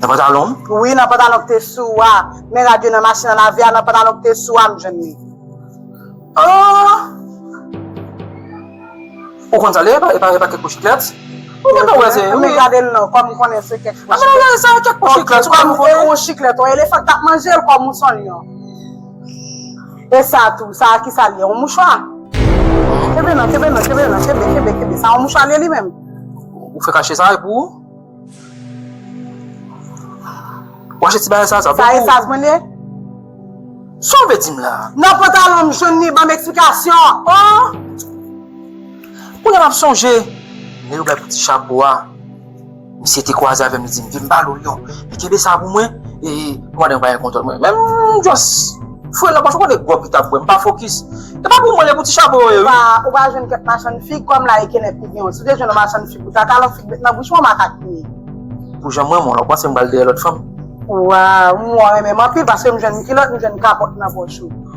Nan pantalon m? Wi, nan pantalon ki te sou ou a. Men rad yo nan machin an lave a, nan pantalon ki te sou ou a m jwenn li. An! Ou konn sa l ye? E pa kèk po chiklèt? Ou gen tan wè se. An men gade l non, kòm m konnen se kèk po chiklèt. An men sa kèk po chiklèt, ou pa konn konnen? Ou chiklèt, on elefan k t ap manje l kòm ou s on lyon. E sa tou, sa a kisa li ye? Yon mouchwa? Kenbe nan, kenbe nan, kenbe nan, kenbe, kenbe, kenbe. Sa yon mouchwa li ye li menm? Ou fè kache sa e pou ou? Ou achte ti bagay sa a, sa pou ou? Sa esas mwen li ye? Sa ou vle di m la? Nan pantalon m jwenn li, ban m eksplikasyon! Oh! Kounye a m ap sonje, lè yo bay pou ti chapo a. Misye te kwaze avèm li dim vin ba lou lion li kenbe sa pou mwen e pandan bagay kontòl mwen menm m just fre nan pòch ou konnen gròg li tap bwè m pa fokis e pa pou mwen e pou ti chapo yo ye wi. Ou pa jwenn kèk machann fig kòm la e kenèp ki genw si w te jwenn yon machann fig pou ta talon fig met nan bouch mwen makak li ye. Pou janm renmen w la ou panse m pral dèyè lòt fanm. Waww m wè w renmen m anpil paske m jwenn kilòt m jwenn kapòt nan pòch ou.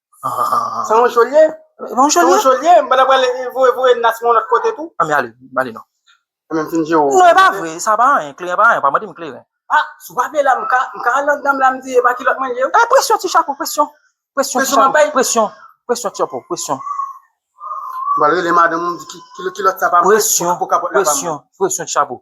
Sa yon jol ye? Yon jol ye? Yon jol ye? Mwen apre le voye voye nas mwen lòt kote tou. Ami ale, ale non. Mwen fin di yo. Non e pa vre, sa pa anyen, kleren pa anyen, pa mande m kleren. A, si w pa vle la m ka, m ka al anndan m la m di e pa kilòt mwen ye. E presyon ti chapo, presyon. Presyon ti chapo, presyon. Presyon ti chapo, presyon. Mwen al rele madanm m di ki kilòt sa pa mwen. Presyon, presyon, presyon ti chapo.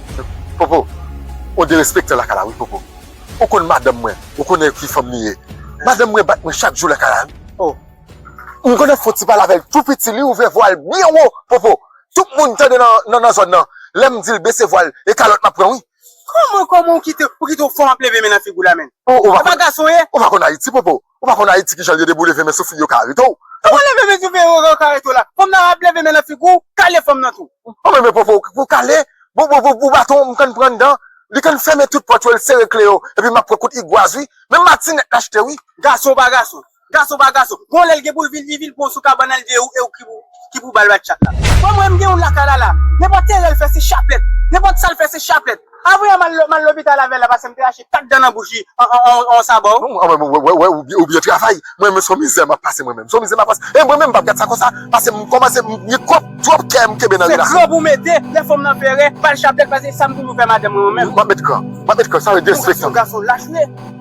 Popo ou derespektan lakay la wi popo ou konn madanm mwen ou konnen ki fanm li ye madanm mwen bat mwen chak jou lakay la wi oh m konnen foti pale avèl tou piti li ouvè vwal byen wo popo tout moun tande nan nan zòn nan lèm dil bese vwal e kalòt map pran wi. Kòman kòman ou kite ou kite yon fanm ap leve men nan figou la menn ou pa konn ayiti popo. Ou pa konn ayiti kijan liye debou leve men sou fi yo ka arete w. Kouman leve men sou fi yo ka arete w la? Fanm nan ap leve men nan figi w, kale fanm nan tou. Ou menm e popo pou kale, pou baton m konn pran dan, li konn fèmen tout pòt yo, l sere kle yo, epi map pran kout igwaz wi, menm matinèt l achte wi. Gason pa gason. Gason pa gason. Gon lè l gen pou l vin li vin pran w sou kabann al de ou e ou ki pou ba l batchat la. Fanm wè m gen yon laka lala. Nenpòt erè l fè se chaplèt. Nenpòt sa l fè se chaplèt. Avwe a m al lopital avèl la pase m te rache 4 dan nan bouch li an on sabò. Ou byen travay, mwen menm son mizè map pase mwen menm, son mizè map pase, e mwen menm pap gad sa konsa, pase m kòmanse m gen twòp twòp kè m kenbe nan relasyon. Se kran pou w mete, lè fanm lan pere, bal chaplet pase sa m toujou fè madanm mwen menm. Map met kran, map met kran sa vle di respekte m. Ou gason lach ou ye.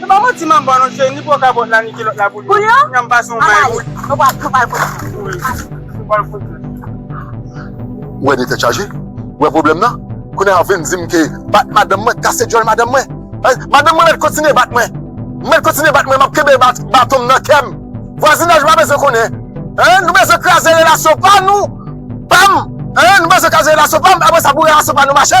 Se pa manti manbo non cheri ni po kabòt la ni kilòt la pou li pou li an kounya m'pase yon bay pou li nou pral nou pral kouri ou wè de tèt chaje ou wè pwoblèm nan kounya wap vin dim ke bat madanm mwen kase dyòl madanm mwen madanm mwen mèt kontinye bat mwen mèt kontinye bat mwen map kenbe batonm nan kèm vwazinaj pa bezwen konnen nou bezwen kraze relasyon pa nou pam nou bezwen kraze relasyon pam apresa pou relasyon pa nou mache.